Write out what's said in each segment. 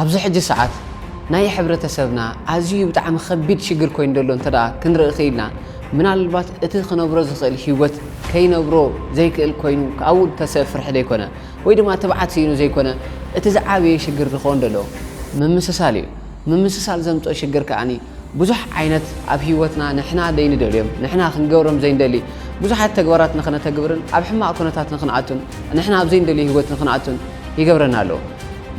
ኣብዚ ሕጂ ሰዓት ናይ ሕብረተሰብና ኣዝዩ ብጣዕሚ ከቢድ ሽግር ኮይኑ ዘሎ እንተ ክንርኢ ክኢልና ምናልባት እቲ ክነብሮ ዝኽእል ህይወት ከይነብሮ ዘይክእል ኮይኑ ካብኡ ተሰ ፍርሒ ዘይኮነ ወይ ድማ ትብዓት ስኢኑ ዘይኮነ እቲ ዝዓበየ ሽግር ዝኸውን ዘሎ ምምስሳል እዩ። ምምስሳል ዘምፅኦ ሽግር ከኣ ብዙሕ ዓይነት ኣብ ህይወትና ንሕና ዘይንደልዮም፣ ንሕና ክንገብሮም ዘይንደሊ ብዙሓት ተግባራት ንኸነተግብርን ኣብ ሕማቕ ኩነታት ንኽንኣቱን ንሕና ኣብ ዘይንደልዮ ህይወት ንኽንኣቱን ይገብረና ኣሎ።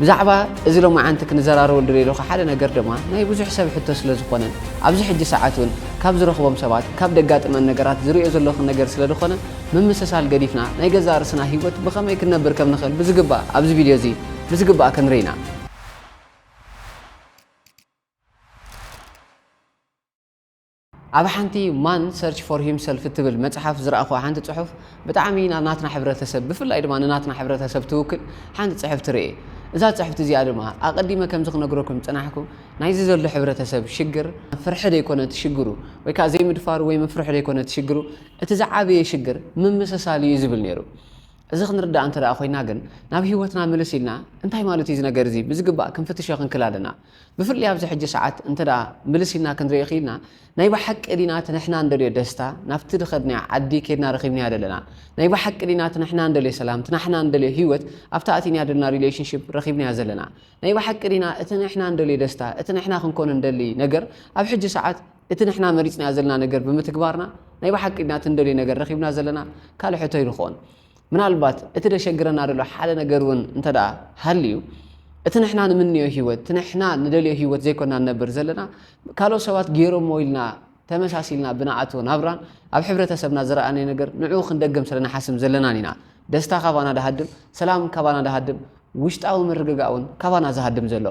ብዛዕባ እዚ ሎማዓንቲ ክንዘራረበሉ ዝደለኹ ሓደ ነገር ድማ ናይ ብዙሕ ሰብ ሕቶ ስለ ዝኾነ ኣብዚ ሕጂ ሰዓት እውን ካብ ዝረኽቦም ሰባት ካብ ደጋጥመን ነገራት ዝርእዮ ዘለኹ ነገር ስለ ዝኾነ ምምስሳል ገዲፍና ናይ ገዛእ ርእስና ህይወት ብኸመይ ክንነብር ከም ንኽእል ብዝግባእ ኣብዚ ቪድዮ እዚ ብዝግባእ ክንርኢ ኢና። ኣብ ሓንቲ ማን ሰርች ፎር ሂምሰልፍ እትብል መጽሓፍ ዝረኣኹዋ ሓንቲ ጽሑፍ ብጣዕሚ ናብ ናትና ሕብረተሰብ ብፍላይ ድማ ንናትና ሕብረተሰብ ትውክል ሓንቲ ጽሕፍቲ ርኤ። እዛ ጽሕፍቲ እዚኣ ድማ ኣቐዲመ ከምዚ ክነግረኩም ዝጸናሕኩ ናይዚ ዘሎ ሕብረተሰብ ሽግር ፍርሒ ደይኮነ እቲ ሽግሩ ወይ ከኣ ዘይምድፋሩ ወይ ምፍርሑ ደይኮነ እቲ ሽግሩ እቲ ዝዓበየ ሽግር ምምስሳል እዩ ዝብል ነይሩ። እዚ ክንርዳእ እንተደኣ ኮይና ግን ናብ ህይወትና ምልስ ኢልና እንታይ ማለት እዩ እዚ ነገር እዚ ብዝግባእ ክንፍትሾ ክንክል ኣለና። ብፍላይ ኣብዚ ሕጂ ሰዓት እንተ ምልስ ኢልና ክንሪኢ ክኢልና ናይ ብሓቂ ዲና እቲ ንሕና እንደልዮ ደስታ ናብቲ ድከድናዮ ዓዲ ኬድና ረኪብናዮ ደለና ናይ ብሓቂ ዲና እቲ ንሕና እንደልዮ ሰላም እቲ ናሕና እንደልዮ ሂወት ኣብቲ ኣቲናዮ ደለና ሪሌሽንሺፕ ረኪብናዮ ዘለና ናይ ብሓቂ ዲና እቲ ንሕና እንደልዮ ደስታ እቲ ንሕና ክንኮኖ እንደሊ ነገር ኣብ ሕጂ ሰዓት እቲ ንሕና መሪጽናዮ ዘለና ነገር ብምትግባርና ናይ ብሓቂ ዲና እቲ እንደልዮ ነገር ረኪብና ዘለና ካልእ ሕቶ ኣይልኮን ምናልባት እቲ ደሸግረና ደሎ ሓደ ነገር እውን እንተደኣ ሃልዩ እቲ ንሕና ንምንዮ ህይወት እቲ ንሕና ንደልዮ ህይወት ዘይኮና ንነብር ዘለና ካልኦት ሰባት ገይሮሞ ኢልና ተመሳሲልና ብንኣቶ ናብራን ኣብ ሕብረተሰብና ዝረኣናዮ ነገር ንዕኡ ክንደግም ስለ ንሓስብ ዘለናን ኢና ደስታ ካባና ድሃድም ሰላም ካባና ድሃድም ውሽጣዊ ምርግጋእ እውን ካባና ዝሃድም ዘሎ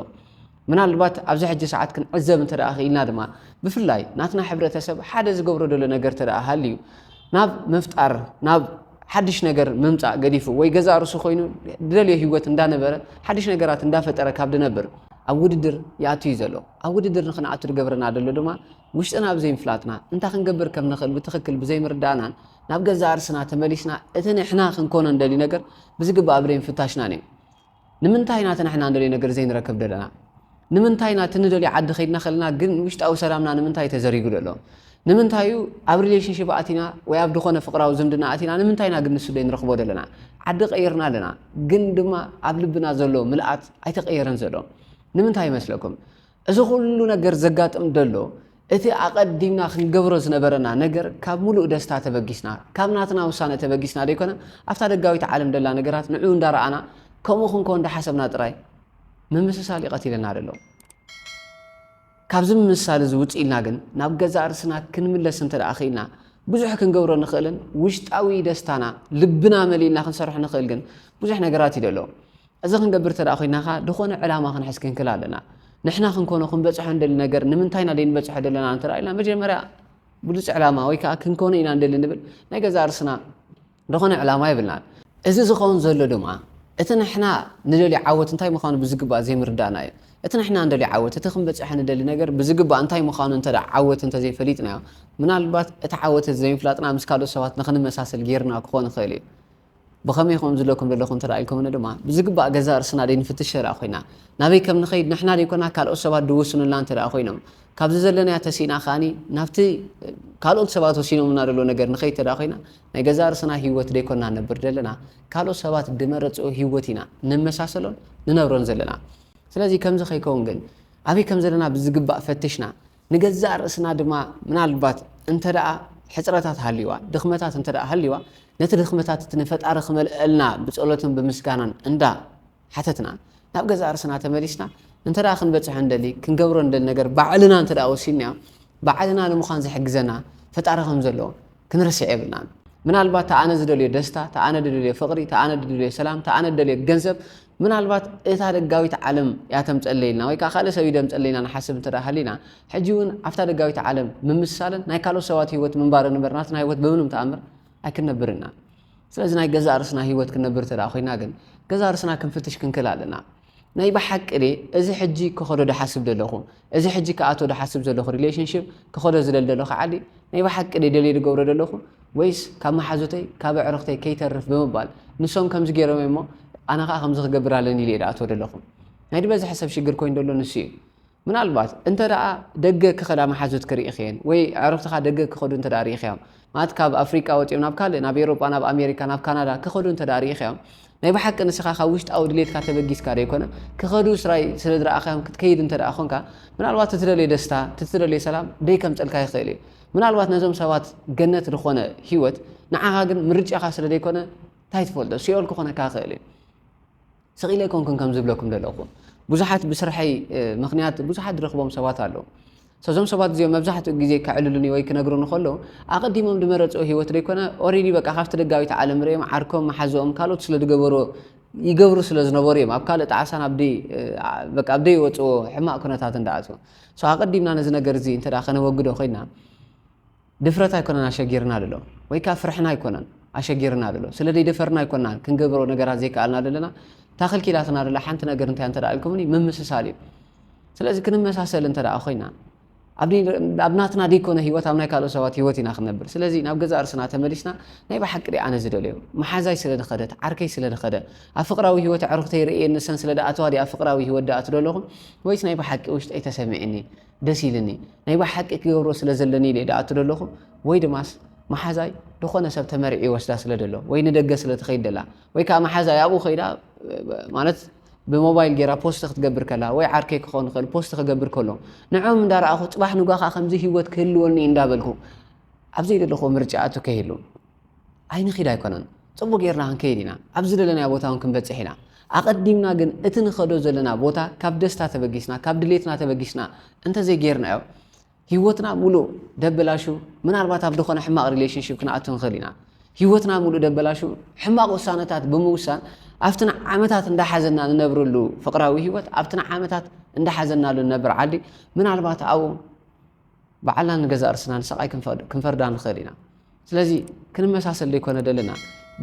ምናልባት ኣብዚ ሕጂ ሰዓት ክንዕዘብ እንተ ክኢልና ድማ ብፍላይ ናትና ሕብረተሰብ ሓደ ዝገብሮ ዘሎ ነገር እንተ ሃልዩ ናብ ምፍጣር ናብ ሓድሽ ነገር ምምፃእ ገዲፉ ወይ ገዛ ርሱ ኮይኑ ድደልዮ ህይወት እንዳነበረ ሓድሽ ነገራት እንዳፈጠረ ካብ ድነብር ኣብ ውድድር ይኣትዩ ዘሎ ኣብ ውድድር ንክንኣቱ ዝገብረና ዘሎ ድማ ውሽጥና ብዘይምፍላጥና እንታይ ክንገብር ከም ንኽእል ብትኽክል ብዘይምርዳእናን ናብ ገዛ ርስና ተመሊስና እቲ ንሕና ክንኮኖ ንደልዩ ነገር ብዝግባእ ብደይምፍታሽናን እዩ ንምንታይ ኢና እቲ ንሕና እንደልዮ ነገር ዘይንረክብ ደለና? ንምንታይ ኢና እቲ ንደልዮ ዓዲ ከይድና ከለና ግን ውሽጣዊ ሰላምና ንምንታይ ተዘሪጉ ደሎ? ንምንታይ እዩ ኣብ ሪሌሽንሽፕ ኣቲና ወይ ኣብ ድኾነ ፍቅራዊ ዝምድና ኣቲና ንምንታይ ኢና ግን ንሱ ዘይንረኽቦ ደለና? ዓዲ ቀይርና ኣለና ግን ድማ ኣብ ልብና ዘሎ ምልኣት ኣይተቀየረን ዘሎ ንምንታይ ይመስለኩም? እዚ ኩሉ ነገር ዘጋጥም ደሎ እቲ ኣቐዲምና ክንገብሮ ዝነበረና ነገር ካብ ሙሉእ ደስታ ተበጊስና ካብ ናትና ውሳነ ተበጊስና ደይኮነ ኣብታ ደጋዊት ዓለም ደላ ነገራት ንዑ እንዳረኣና ከምኡ ክንኮ እንዳሓሰብና ጥራይ ምምስሳል እዩ ቀቲለና ደሎ። ካብዚ ምምስሳል እዚ ውፅ ኢልና ግን ናብ ገዛእ ርስና ክንምለስ እንተ ደኣ ክኢልና ብዙሕ ክንገብሮ ንኽእልን ውሽጣዊ ደስታና ልብና መሊእና ክንሰርሖ ንኽእል ግን ብዙሕ ነገራት እዩ ደሎ። እዚ ክንገብር ተደኣ ኮይናኻ ድኾነ ዕላማ ክንሕዝ ክንክል ኣለና። ንሕና ክንኮኖ ክንበጽሖ ንደሊ ነገር ንምንታይ ኢና ደይንበጽሖ ደለና እንተ ኢልና መጀመርያ ብሉጽ ዕላማ ወይ ከኣ ክንኮኖ ኢና ንደሊ ንብል ናይ ገዛእ ርስና ድኾነ ዕላማ የብልናን። እዚ ዝኸውን ዘሎ ድማ እቲ ንሕና ንደልዮ ዓወት እንታይ ምዃኑ ብዝግባእ ዘይምርዳእና እዩ። እቲ ንሕና ንደልዮ ዓወት እቲ ክንበጽሖ ንደሊ ነገር ብዝግባእ እንታይ ምዃኑ እንተ ደኣ ዓወት እንተ ዘይፈሊጥናዮ ምናልባት እቲ ዓወት እቲ ዘይምፍላጥና ምስ ካልኦት ሰባት ንክንመሳሰል ገይርና ክኾን ይኽእል እዩ። ብኸመይ ከምኡ ዝብለኩም ዘለኹ እንተ ኢልኩምኒ ድማ፣ ብዝግባእ ገዛእ ርእስና ደይንፍትሽ እንተ ኰይና፣ ናበይ ከም ንኸይድ ንሕና ደይኰና ካልኦት ሰባት ድውስኑልና እንተ ኰይኖም፣ ካብዚ ዘለናዮ ተሲእና ከኣ ናብቲ ካልኦት ሰባት ወሲኖምልና ደለዉ ነገር ንኸይድ እንተ ኰይና፣ ናይ ገዛእ ርእስና ህይወት ደይኰና ንነብር ዘለና፣ ካልኦት ሰባት ድመረጽኦ ህይወት ኢና ንመሳሰሎን ንነብሮን ዘለና። ስለዚ ከምዚ ከይከውን ግን፣ ኣበይ ከም ዘለና ብዝግባእ ፈትሽና፣ ንገዛእ ርእስና ድማ ምናልባት እንተ ደኣ ሕጽረታት ሃልዩዋ፣ ድኽመታት እንተ ደኣ ሃልዩዋ፣ ነቲ ድኽመታት እቲ ንፈጣሪ ክመልእልና ብጸሎትን ብምስጋናን እንዳ ሓተትና፣ ናብ ገዛእ ርእስና ተመሊስና እንተ ደኣ ክንበጽሖ እንደሊ፣ ክንገብሮ እንደሊ ነገር ባዕልና እንተ ደኣ ወሲንናዮ፣ ባዕልና ንምዃን ዝሕግዘና ፈጣሪ ከም ዘሎ ክንርስዕ የብልናን። ምናልባት እቲ ኣነ ዝደልዮ ደስታ፣ እቲ ኣነ ድደልዮ ፍቕሪ፣ እቲ ኣነ ድደልዮ ሰላም፣ እቲ ኣነ ድደልዮ ገንዘብ፣ ምናልባት እታ ደጋዊት ዓለም እያ ተምጸለይልና ወይ ከኣ ካልእ ሰብ እዩ ደምጸለይና ንሓስብ እንተ ደኣ ሃሊና፣ ሕጂ እውን ኣብታ ደጋዊት ዓለም ምምስሳልን ናይ ካልኦት ሰባት ህይወት ምንባርን እምበር ናትና ህይወት ብምንም ተኣምር ኣይክንነብርን ኢና። ስለዚ ናይ ገዛእ ርእስና ህይወት ክንነብር እንተ ደኣ ኮይና ግን ገዛእ ርእስና ክንፍትሽ ክንክእል ኣለና። ናይ ብሓቂ ድየ እዚ ሕጂ ክኸዶ ድሓስብ ዘለኹ፣ እዚ ሕጂ ክኣቶ ድሓስብ ዘለኹ ሪሌሽንሽፕ ክኸዶ ዝደሊ ዘለኹ ዓዲ ናይ ብሓቂ ድየ ደልየ ድገብሮ ዘለኹ፣ ወይስ ካብ መሓዙተይ ካብ ኣዕሩኽተይ ከይተርፍ ብምባል ንሶም ከምዚ ጌሮም እዮም እሞ ኣነ ከኣ ከምዚ ክገብር ኣለኒ ኢለ እየ ድኣትወ ደለኹ። ናይ ድበዝሐ ሰብ ሽግር ኮይኑ ደሎ ንሱ እዩ። ምናልባት እንተ ደኣ ደገ ክኸዳ መሓዙት ክርኢኽየን ወይ ኣዕሩኽትኻ ደገ ክኸዱ እንተ ደኣ ርኢኽያም ማለት ካብ ኣፍሪቃ ወጺኦም ናብ ካልእ ናብ ኤሮጳ ናብ ኣሜሪካ ናብ ካናዳ ክኸዱ እንተ ደኣ ርኢኽያም ናይ ብሓቂ ንስኻ ካብ ውሽጣዊ ድሌትካ ተበጊስካ ደይኮነ ክኸዱ ስራይ ስለ ዝረኣኻዮም ክትከይድ እንተ ደኣ ኾንካ ምናልባት እቲ ትደልዮ ደስታ እቲ ትደልዮ ሰላም ደይከምጸልካ ይኽእል እዩ። ምናልባት ነዞም ሰባት ገነት ዝኾነ ህይወት ንዓኻ ግን ምርጫኻ ስለ ዘይኮነ እንታይ ትፈልጦ ሲኦል ክኾነካ ክእል እዩ ስቕ ኢለ ኣይኮንኩን ከም ዝብለኩም ዘለኹ ብዙሓት ብስርሐይ ምክንያት ብዙሓት ዝረኽቦም ሰባት ኣለዉ ሰዞም ሰባት እዚኦም መብዛሕትኡ ግዜ ከዕልሉኒ ወይ ክነግሩ ንከሎ ኣቐዲሞም ዝመረፅኦ ሂወት ዘይኮነ ኦሬዲ በቃ ካብቲ ደጋዊት ዓለም ርኦም ዓርኮም መሓዘኦም ካልኦት ስለ ዝገበሩ ይገብሩ ስለ ዝነበሩ እዮም ኣብ ካልእ ጣዕሳን ኣብ ዘይወፅዎ ሕማቅ ኩነታት እንዳኣትዎ So ኣቐዲምና ነዚ ነገር እዚ እንተ ከነወግዶ ኮይና ድፍረት ኣይኮነን ኣሸጊርና ዘሎ ወይ ከኣ ፍርሕና ኣይኮነን ኣሸጊርና ዘሎ ስለ ዘይደፈርና ኣይኮናን ክንገብሮ ነገራት ዘይከኣልና ዘለና ታኽል ኪላትና ደላ ሓንቲ ነገር እንታይ እንተ ኢልኩምኒ ምምስሳል እዩ ስለዚ ክንመሳሰል እንተ ኮይና ኣብ ናትና ደይኮነ ሂወት ኣብ ናይ ካልኦ ሰባት ሂወት ኢና ክንነብር ስለዚ ናብ ገዛ እርስና ተመሊስና ናይ ብሓቂ ደ ኣነ ዝደልዮ መሓዛይ ስለ ዝኸደት ዓርከይ ስለ ዝኸደ ኣብ ፍቅራዊ ሂወት ኣዕሩኽተይ ርእየን ንሰን ስለ ደኣተዋ ድየ ኣብ ፍቅራዊ ሂወት ደኣቱ ደለኹ ወይስ ናይ ብሓቂ ውሽጠይ ተሰሚዕኒ ደስ ኢልኒ ናይ ብሓቂ ክገብሮ ስለ ዘለኒ ድየ ደኣቱ ደለኹ ወይ ድማስ መሓዛይ ዝኾነ ሰብ ተመሪዑ ይወስዳ ስለ ደሎ ወይ ንደገ ስለ ትኸይድ ደላ ወይ ከዓ መሓዛይ ኣብኡ ከይዳ ማለት ብሞባይል ጌራ ፖስት ክትገብር ከላ ወይ ዓርከይ ክኸውን ይኽእል ፖስት ክገብር ከሎ ንዕኦም እንዳረኣኹ ፅባሕ ንጓ ከዓ ከምዚ ሂወት ክህልወኒ እንዳበልኩ ኣብ ዘይደለኹዎ ምርጫ ኣቱ ከይህሉ ኣይንኺድ ኣይኮነን፣ ጽቡቕ ጌርና ክንከይድ ኢና፣ ኣብ ዝደለናዮ ቦታ ውን ክንበጽሕ ኢና፣ ኣቐዲምና ግን እቲ ንኸዶ ዘለና ቦታ ካብ ደስታ ተበጊስና፣ ካብ ድሌትና ተበጊስና እንተዘይ ጌርናዮ ሂወትና ምሉእ ደበላሹ፣ ምናልባት ኣብ ድኾነ ሕማቕ ሪሌሽንሺፕ ክንኣቱ ንኽእል ኢና፣ ሂወትና ምሉእ ደበላሹ፣ ሕማቕ ውሳነታት ብምውሳን ኣብቲ ንዓመታት እንዳሓዘና ንነብረሉ ፍቕራዊ ሂወት፣ ኣብቲ ንዓመታት እንዳሓዘናሉ ንነብር ዓዲ ምናልባት ኣብኡ። ባዕልና ንገዛእ ርእስና ንስቓይ ክንፈርዳ ንኽእል ኢና። ስለዚ ክንመሳሰል ደይኮነ ደለና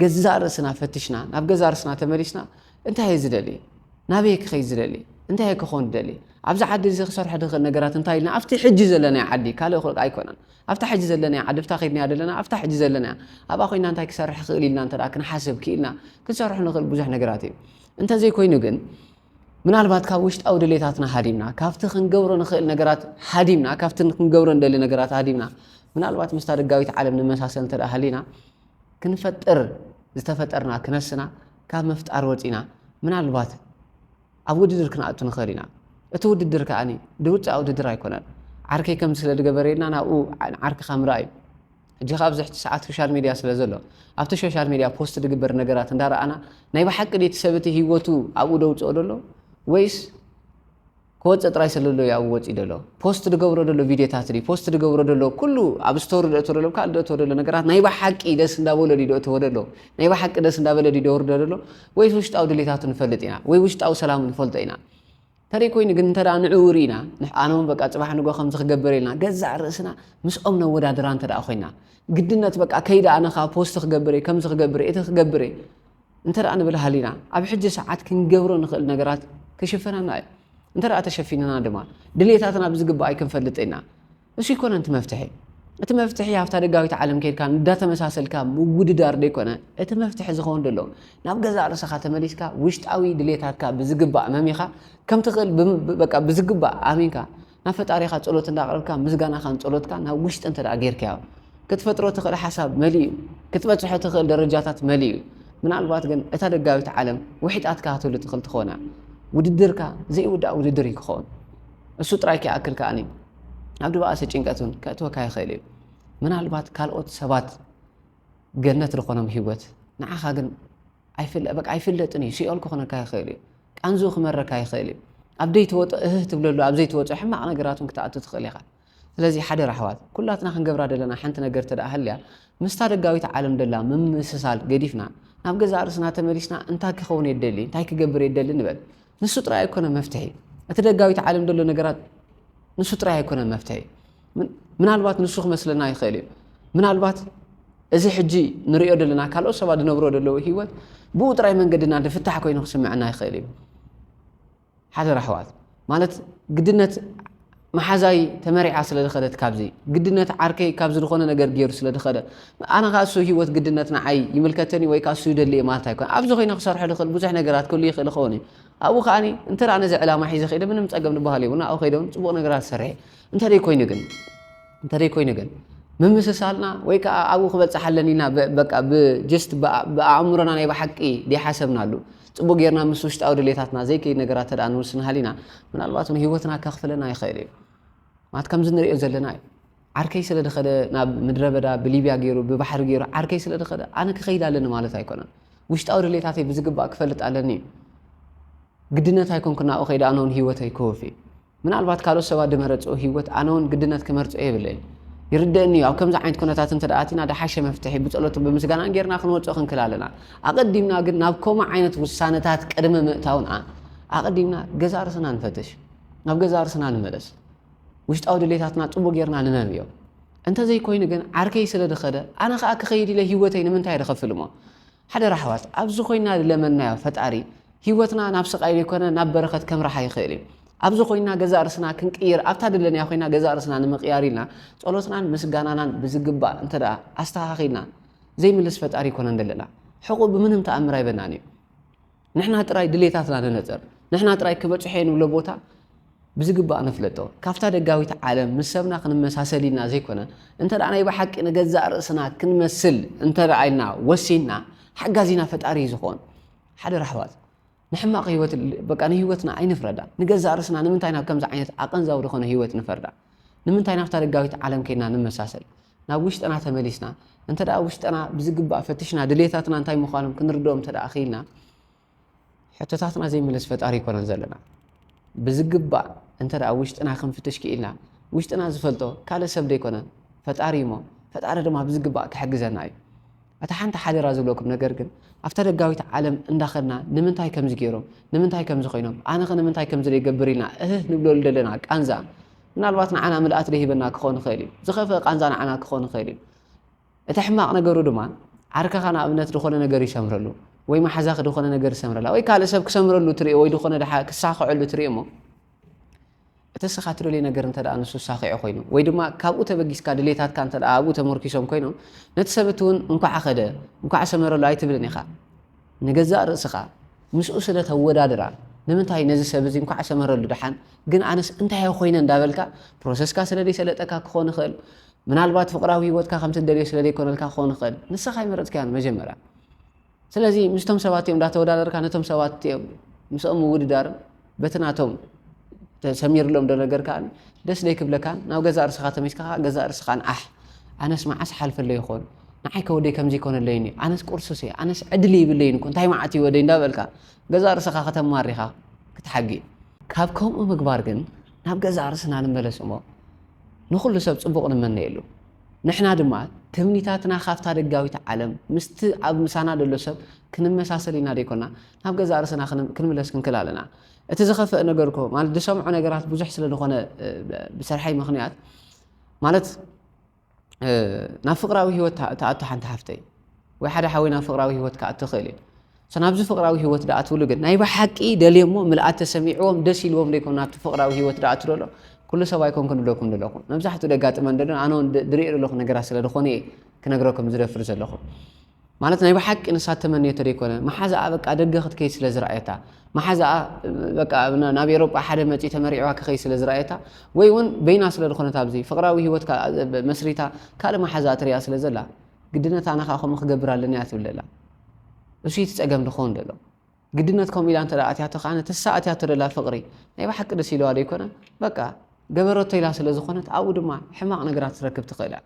ገዛእ ርእስና ፈትሽና ናብ ገዛእ ርእስና ተመሊስና እንታይ እየ ዝደሊ ናበይ እየ ክኸይድ ዝደሊ እንታይ እየ ክኾን ዝደሊ ኣብዚ ዓዲ እዚ ክሰርሖ ድኽእል ነገራት እንታይ ኢልና ኣብቲ ሕጂ ዘለናዮ ዓዲ ካልእ ክልቃ ኣይኮነን ኣብታ ሕጂ ዘለናያ ዓዲ ብታ ከይድናያ ደለና ኣብታ ሕጂ ዘለናያ ኣብኣ ኮይና እንታይ ክሰርሕ ክእል ኢልና እንተ ክንሓስብ ክኢልና ክንሰርሖ ንኽእል ብዙሕ ነገራት እዩ እንተዘይኮይኑ ግን ምናልባት ካብ ውሽጣዊ ድሌታትና ሃዲምና፣ ካብቲ ክንገብሮ ንኽእል ነገራት ሃዲምና፣ ካብቲ ክንገብሮ ንደሊ ነገራት ሃዲምና፣ ምናልባት ምስታ ደጋዊት ዓለም ንመሳሰል እንተ ደኣ ሃሊና፣ ክንፈጥር ዝተፈጠርና ክነስና ካብ ምፍጣር ወጺእና፣ ምናልባት ኣብ ውድድር ክንኣቱ ንኽእል ኢና። እቲ ውድድር ከኣ ድብጫ ውድድር ኣይኮነን። ዓርከይ ከምዚ ስለ ዝገበረልና ናብኡ ንዓርክኻ ምርኣይ እዩ። ሕጂ ከኣ ኣብዚ ሕጂ ሰዓት ሾሻል ሜድያ ስለ ዘሎ ኣብቲ ሾሻል ሜድያ ፖስት ዝግበር ነገራት እንዳ ረኣና ናይ ብሓቂ ድዩ እቲ ሰብ እቲ ሂወቱ ኣብኡ ደውጽኦ ደሎ ወይስ ክወጽእ ጥራይ ስለ ዘሎ እዩ ኣብኡ ወጺኡ ደሎ ፖስት ዝገብሮ ደሎ ቪድዮታት ድዩ ፖስት ዝገብሮ ደሎ ኩሉ ኣብ ስቶሪ ደእቶ ደሎ ካልእ ደእቶ ደሎ ነገራት ናይ ብሓቂ ደስ እንዳበሎ ድዩ ደእትዎ ደሎ ናይ ብሓቂ ደስ እንዳበለ ድዩ ደውርዶ ደሎ ወይስ ውሽጣዊ ድሌታቱ ንፈልጥ ኢና ወይ ውሽጣዊ ሰላሙ ንፈልጦ ኢና ተደይ ኮይኑ ግን እንተ ንዕኡ ርኢና ንሕኣነውን በቃ ጽባሕ ንጎ ከምዚ ክገብር ኢልና ገዛእ ርእስና ምስኦም ነወዳድራ እንተ ኮይና ግድነት በቃ ከይደ ኣነኻ ፖስት ክገብር እየ ከምዚ ክገብር እቲ ክገብር እየ እንተ ንብል ሃሊና ኣብ ሕጂ ሰዓት ክንገብሮ ንኽእል ነገራት ክሽፈናና እዩ እንተ ተሸፊንና ድማ ድሌታትና ብዝግባእ ኣይክንፈልጥ ኢና እሱ ኣይኮነን እቲ መፍትሒ። እቲ መፍትሒ ኣብታ ደጋዊት ዓለም ከይድካ እንዳተመሳሰልካ ምውድዳር ደይኮነ እቲ መፍትሒ ዝኸውን ደሎ ናብ ገዛእ ርእሰኻ ተመሊስካ ውሽጣዊ ድሌታትካ ብዝግባእ መሚኻ ከምትኽእል በቃ ብዝግባእ ኣሚንካ ናብ ፈጣሪኻ ጸሎት እንዳቕረብካ ምስጋናኻን ጸሎትካ ናብ ውሽጢ እንተ ጌርካዮ ክትፈጥሮ ትኽእል ሓሳብ መሊኡ ክትበጽሖ ትኽእል ደረጃታት መሊኡ ምናልባት ግን እታ ደጋዊት ዓለም ውሒጣትካ ክትህሉ ትኽእል ትኾና ውድድርካ ዘይውዳእ ውድድር እዩ ክኸውን እሱ ጥራይ ከይኣክል ከኣኒ ኣብ ድባኣሲ ጭንቀት እውን ከእትወካ ይኽእል እዩ ምናልባት ካልኦት ሰባት ገነት ዝኾኖም ህይወት ንዓኻ ግን በቃ ኣይፍለጥን እዩ ሲኦል ክኾነካ ይኽእል እዩ ቃንዙ ክመረካ ይኽእል እዩ ኣብ ዘይተወጦ እህህ ትብለሉ ኣብ ዘይተወጦ ሕማቕ ነገራት እውን ክትኣቱ ትኽእል ኢኻ ስለዚ ሓደ ራሕዋት ኩላትና ክንገብራ ደለና ሓንቲ ነገር እተ ሃልያ ምስታ ደጋዊት ዓለም ደላ ምምስሳል ገዲፍና ናብ ገዛ ርእስና ተመሊስና እንታይ ክኸውን የደሊ እንታይ ክገብር የደሊ ንበል ንሱ ጥራይ ኣይኮነን መፍትሒ እቲ ደጋዊት ዓለም ዘሎ ነገራት ንሱ ጥራይ ኣይኮነን መፍትሒ ምናልባት ንሱ ክመስለና ይኽእል እዩ ምናልባት እዚ ሕጂ ንሪኦ ዘለና ካልኦት ሰባት ዝነብሮ ዘለዉ ሂወት ብኡ ጥራይ መንገድና ዝፍታሕ ኮይኑ ክስምዐና ይኽእል እዩ ሓደራ ኣሕዋት ማለት ግድነት መሓዛይ ተመሪዓ ስለ ዝኸደት ካብዚ ግድነት ዓርከይ ካብዚ ዝኾነ ነገር ጌሩ ስለ ዝኸደ ኣነ ከኣ እሱ ሂወት ግድነት ንዓይ ይምልከተኒ ወይ ከኣ እሱ ይደሊ እየ ማለት ኣይኮነን ኣብዚ ኮይነ ክሰርሖ ዝኽእል ብዙሕ ነገራት ክህሉ ይኽእል ይኸውን እዩ ኣብኡ ከኣ እንተ ነዚ ዕላማ ሒዘ ከይደ ምንም ጸገም ዝበሃል የብሉን ኣብኡ ከይደ ጽቡቕ ነገራት ዝሰርሐ እንተደይ ኮይኑ ግን እንተደይ ኮይኑ ግን ምምስሳልና ወይ ከዓ ኣብኡ ክበፅሕ ኣለኒ ኢና በቃ ብጀስት ብኣእምሮና ናይ ብሓቂ ዘይሓሰብናሉ ጽቡቕ ጌርና ምስ ውሽጣዊ ድሌታትና ዘይከይድ ነገራት እንተደኣ ንውስን ሃሊና፣ ምናልባት እውን ህይወትና ከኽፍለና ይኽእል እዩ። ማለት ከምዚ ንርእዮ ዘለና እዩ። ዓርከይ ስለ ዝኸደ ናብ ምድረ በዳ ብሊብያ ገይሩ ብባሕሪ ገይሩ ዓርከይ ስለ ዝኸደ ኣነ ክኸይድ ኣለኒ ማለት ኣይኮነን። ውሽጣዊ ድሌታተይ ብዝግባእ ክፈልጥ ኣለኒ እዩ። ግድነት ኣይኮንኩን ናብኡ ከይደ ኣነ እውን ህይወተይ ክወፊ ምናልባት ካልኦት ሰባት ድመረጽኦ ሂወት ኣነ ውን ግድነት ክመርጾ የብለይን ይርደእኒ እዩ ኣብ ከምዚ ዓይነት ኩነታት እንተ ኣቲና ድሓሸ መፍትሒ ብጸሎትን ብምስጋናን ጌርና ክንወጾ ክንክል ኣለና ኣቀዲምና ግን ናብ ከምኡ ዓይነት ውሳነታት ቅድሚ ምእታውና ኣቀዲምና ገዛ ርስና ንፈትሽ ናብ ገዛ ርስና ንመለስ ውሽጣዊ ድሌታትና ጽቡቅ ጌርና ንነብዮ እንተዘይኮይኑ ግን ዓርከይ ስለ ድኸደ ኣነ ከኣ ክኸይድ ኢለ ሂወተይ ንምንታይ ድኸፍል እሞ ሓደራ ኣሕዋት ኣብዚ ኮይና ልለመናዮ ፈጣሪ ሂወትና ናብ ስቃይ ለይኮነ ናብ በረከት ከምርሓ ይክእል እዩ ኣብዚ ኮይና ገዛእ ርስና ክንቅይር ኣብታ ድለንያ ኮይና ገዛእ ርስና ንምቅያር ኢልና ፆሎትናን ምስጋናናን ብዝግባእ እንተ ኣስተካኪልና ዘይምልስ ፈጣሪ ኣይኮነን ደለና ሕቁ ብምንም ታኣምር ኣይበናን እዩ ንሕና ጥራይ ድሌታትና ንነጽር፣ ንሕና ጥራይ ክበጽሖ'የ ንብሎ ቦታ ብዝግባእ ነፍለጦ። ካብታ ደጋዊት ዓለም ምስ ሰብና ክንመሳሰል ኢልና ዘይኮነ፣ እንተ ናይ ብሓቂ ንገዛእ ርእስና ክንመስል እንተ ኢልና ወሲንና፣ ሓጋዚና ፈጣሪ እዩ ዝኸውን። ሓደራ ኣሕዋት፣ ንሕማቕ ህይወት በቃ ንህይወትና ኣይንፍረዳ። ንገዛእ ርእስና ንምንታይ ናብ ከምዚ ዓይነት ኣቐንዛዊ ዝኾነ ህይወት ንፈርዳ? ንምንታይ ናብታ ደጋዊት ዓለም ኬድና ንመሳሰል? ናብ ውሽጥና ተመሊስና እንተ ደኣ ውሽጥና ብዝግባእ ፈትሽና ድሌታትና እንታይ ምዃኖም ክንርድኦም እንተ ደኣ ክኢልና ሕቶታትና ዘይምልስ ፈጣሪ ኣይኮነን ዘለና ብዝግባእ እንተ ደኣ ውሽጥና ክንፍትሽ ክኢልና ውሽጥና ዝፈልጦ ካልእ ሰብ ዘይኮነ ፈጣሪ እሞ ፈጣሪ ድማ ብዝግባእ ክሕግዘና እዩ እታ ሓንቲ ሓደራ ዝብለኩም ነገር ግን ኣብታ ደጋዊት ዓለም እንዳኸድና ንምንታይ ከምዚ ገይሮም ንምንታይ ከምዚ ኮይኖም ኣነኸ ንምንታይ ከምዚ ዘይገብር ኢልና እህህ ንብለሉ ዘለና ቃንዛ ምናልባት ንዓና ምልኣት ደይህበና ክኾን ይኽእል እዩ። ዝኸፍእ ቃንዛ ንዓና ክኾን ይኽእል እዩ። እቲ ሕማቕ ነገሩ ድማ ዓርከኻ ንኣብነት ድኾነ ነገር ይሰምረሉ ወይ መሓዛኺ ድኾነ ነገር ይሰምረላ ወይ ካልእ ሰብ ክሰምረሉ ትሪኦ ወይ ድኾነ ድሓ ክሳኽዐሉ ትሪኦ እሞ እቲ እስኻ ትደልዮ ነገር እንተ ደኣ ንሱ ሳኺዑ ኮይኑ ወይ ድማ ካብኡ ተበጊስካ ድሌታትካ እንተ ደኣ ኣብኡ ተመርኪሶም ኮይኖም ነቲ ሰብቲ እውን እንኳዕ ኸደ እንኳዕ ሰመረሉ ኣይትብልን ኢኻ ንገዛእ ርእስኻ ምስኡ ስለ ተወዳድራ ንምንታይ ነዚ ሰብ እዚ እንኳዕ ሰመረሉ ደሓን ግን ኣነስ እንታይ እየ ኮይነ እንዳበልካ ፕሮሰስካ ስለ ዘይሰለጠካ ክኾን ይኽእል ምናልባት ፍቕራዊ ሂወትካ ከምቲ ትደልዮ ስለ ዘይኮነልካ ክኾን ይኽእል ንስኻ ኣይመረጽካዮን መጀመርያ ስለዚ ምስቶም ሰባት እዮም እንዳተወዳደርካ ነቶም ሰባት እዮም ምስኦም ምውድዳርን በቲ ናቶም ተሰሚርሎም ዶ ነገር ከኣ ደስ ደይክብለካን ናብ ገዛእ ርእስኻ ተመልስካ ከኣ ገዛእ ርእስኻን ኣሕ ኣነስ መዓስ ሓልፈለይ ይኾን ንዓይ ከ ወደይ ከምዚ ይኮነለይን እዩ ኣነስ ቁርሱስ እየ ኣነስ ዕድል ይብለይን እኮ እንታይ መዓት እዩ ወደይ እንዳበልካ ገዛእ ርእስኻ ከተማሪ ኢኻ ክትሓጊ ካብ ከምኡ ምግባር ግን ናብ ገዛእ ርእስና ንመለስ እሞ ንኹሉ ሰብ ጽቡቕ ንመነየሉ ንሕና ድማ ትምኒታትና ካብታ ደጋዊት ዓለም ምስቲ ኣብ ምሳና ዘሎ ሰብ ክንመሳሰል ኢና ደይኮና ናብ ገዛእ ርእስና ክንምለስ ክንክል ኣለና። እቲ ዝኸፈእ ነገርኮ ማለት ዝሰምዖ ነገራት ብዙሕ ስለ ዝኾነ ብሰርሐይ ምኽንያት ማለት ናብ ፍቅራዊ ህይወት ተኣቱ ሓንቲ ሓፍተይ ወይ ሓደ ሓወይ ናብ ፍቅራዊ ህይወት ክኣቱ ይኽእል እዩ ናብዚ ፍቅራዊ ህይወት ድኣትብሉ ግን ናይ ብሓቂ ደልዮ እሞ ምልኣት ተሰሚዕዎም ደስ ኢልዎም ዘይኮኑ ናብቲ ፍቅራዊ ህይወት ድኣቱ ደሎ ኩሉ ሰብ ኣይኮንኩን ድለኩም ደለኹ መብዛሕትኡ ደጋጥመን ደሎ ኣነ እውን ድሪኦ ደለኹ ነገራት ስለ ዝኾነ እየ ክነግረኩም ዝደፍር ዘለኹ ማለት ናይ ብሓቂ ንሳ እተመነየቶ ደይኮነ መሓዛኣ በቃ ደገ ክትከይድ ስለ ዝረኣየታ መሓዛኣ በቃ ናብ ኤሮጳ ሓደ መጺኡ ተመሪዕዋ ክኸይድ ስለ ዝረኣየታ ወይ ውን በይና ስለ ዝኾነት ኣብዚ ፍቕራዊ ሂወት ካልኣ መስሪታ ካልእ መሓዛኣ ትሪኣ ስለ ዘላ ግድነት ኣነ ከኣ ከምኡ ክገብር ኣለኒ እያ ትብል ዘላ እሱ እቲ ጸገም ድኾውን ደሎ ግድነት ከምኡ ኢላ እንተ ኣትያቶ ከኣ ንትሳ ኣትያቶ ደላ ፍቕሪ ናይ ብሓቂ ደስ ኢለዋ ደይኮነ በቃ ገበረቶ ኢላ ስለ ዝኾነት ኣብኡ ድማ ሕማቕ ነገራት ትረክብ ትኽእል እያ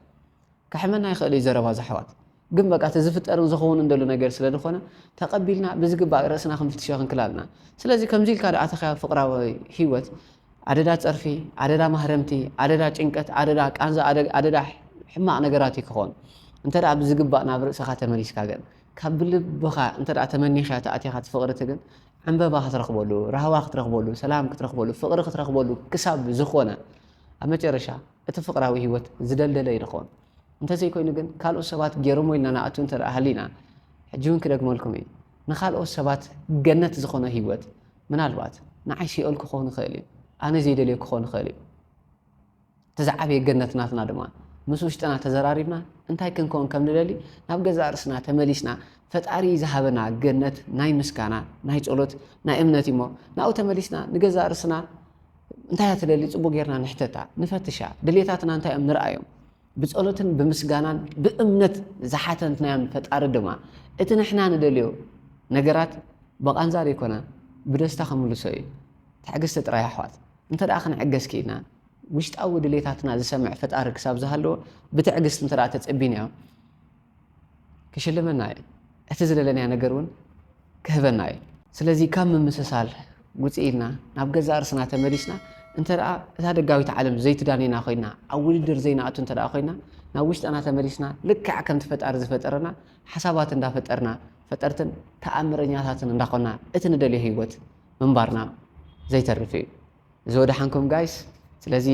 ከሕመና ይኽእል እዩ ዘረባ ዘሕዋት ግን በቃ እቲ ዝፍጠርን ዝኸውንን ደሎ ነገር ስለ ድኾነ ተቐቢልና ብዝግባእ ርእስና ክንፍትሾ ክንክል ኣለና ስለዚ ከምዚ ኢልካ ደኣ ተኸያ ፍቕራዊ ሂወት ኣደዳ ጸርፊ ኣደዳ ማህረምቲ ኣደዳ ጭንቀት ኣደዳ ቃንዛ ኣደዳ ሕማቕ ነገራት እዩ ክኾን እንተ ደኣ ብዝግባእ ናብ ርእስኻ ተመሊስካ ግን ካብ ብልብኻ እንተ ደኣ ተመኒኻ ተኣቲኻ ትፍቕርቲ ግን ዕንበባ ክትረኽበሉ ራህዋ ክትረኽበሉ ሰላም ክትረኽበሉ ፍቕሪ ክትረኽበሉ ክሳብ ዝኾነ ኣብ መጨረሻ እቲ ፍቕራዊ ህይወት ዝደልደለ ይድኾን። እንተዘይኮይኑ ግን ካልኦት ሰባት ገይሮሞ ኢልና ንኣቱ እንተ ሃሊና፣ ሕጂ እውን ክደግመልኩም እየ፣ ንኻልኦት ሰባት ገነት ዝኾኖ ህይወት ምናልባት ንዓይ ሲኦል ክኾን ይኽእል እዩ፣ ኣነ ዘይደልዮ ክኾን ይኽእል እዩ። እቲ ዝዓበየ ገነት ናትና ድማ ምስ ውሽጥና ተዘራሪብና እንታይ ክንከውን ከም ንደሊ ናብ ገዛእ ርእስና ተመሊስና ፈጣሪ ዝሃበና ገነት ናይ ምስጋና ናይ ጸሎት ናይ እምነት እዩሞ ናብኡ ተመሊስና ንገዛእ ርእስና እንታይ እያ ትደሊ? ጽቡቕ ጌርና ንሕተታ፣ ንፈትሻ፣ ድሌታትና እንታይ እዮም ንርኣዮም። ብጸሎትን ብምስጋናን ብእምነት ዝሓተትናዮም ፈጣሪ ድማ እቲ ንሕና ንደልዮ ነገራት ብቓንዛ ዘይኮነ ብደስታ ክምልሶ እዩ። ትዕግስቲ ጥራይ ኣሕዋት። እንተ ክንዕገስ ክኢልና ውሽጣዊ ድሌታትና ዝሰምዕ ፈጣሪ ክሳብ ዝሃለወ ብትዕግስቲ እንተ ተጸቢናዮ፣ ክሽልመና እዩ፣ እቲ ዝደለናዮ ነገር እውን ክህበና እዩ። ስለዚ ካብ ምምስሳል ውጽእ ኢልና ናብ ገዛእ ርእስና ተመሊስና እንተ እታ ደጋዊት ዓለም ዘይትዳንየና ኮይና ኣብ ውድድር ዘይንኣቱ እንተ ኮይና ናብ ውሽጥና ተመሊስና ልክዕ ከምቲ ፈጣሪ ዝፈጠረና ሓሳባት እንዳፈጠርና ፈጠርትን ተኣምረኛታትን እንዳኾና እቲ ንደልዮ ህይወት ምንባርና ዘይተርፍ እዩ። እዚ ወደሓንኩም ጋይስ ስለዚ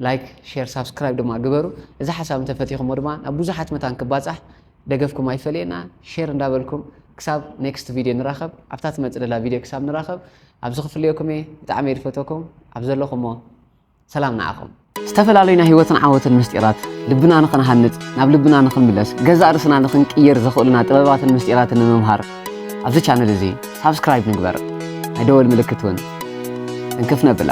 ላይክ ሼር ሳብስክራይብ ድማ ግበሩ እዚ ሓሳብ እንተፈቲኹሞ ድማ ናብ ብዙሓት መታን ክባጻሕ ደገፍኩም ኣይፈለየና ሼር እንዳበልኩም ክሳብ ኔክስት ቪድዮ ንራኸብ ኣብታ ትመጽእ ደላ ቪድዮ ክሳብ ንራኸብ ኣብዚ ክፍልየኩም እየ ብጣዕሚ እየ ዝፈተኩም ኣብ ዘለኹሞ ሰላም ንዓኹም ዝተፈላለዩ ናይ ህይወትን ዓወትን ምስጢራት ልብና ንኽንሃንጽ ናብ ልብና ንኽንምለስ ገዛእ ርእስና ንኽንቅይር ዘኽእሉና ጥበባትን ምስጢራትን ንምምሃር ኣብዚ ቻነል እዚ ሳብስክራይብ ንግበር ናይ ደወል ምልክት እውን እንክፍ ነብላ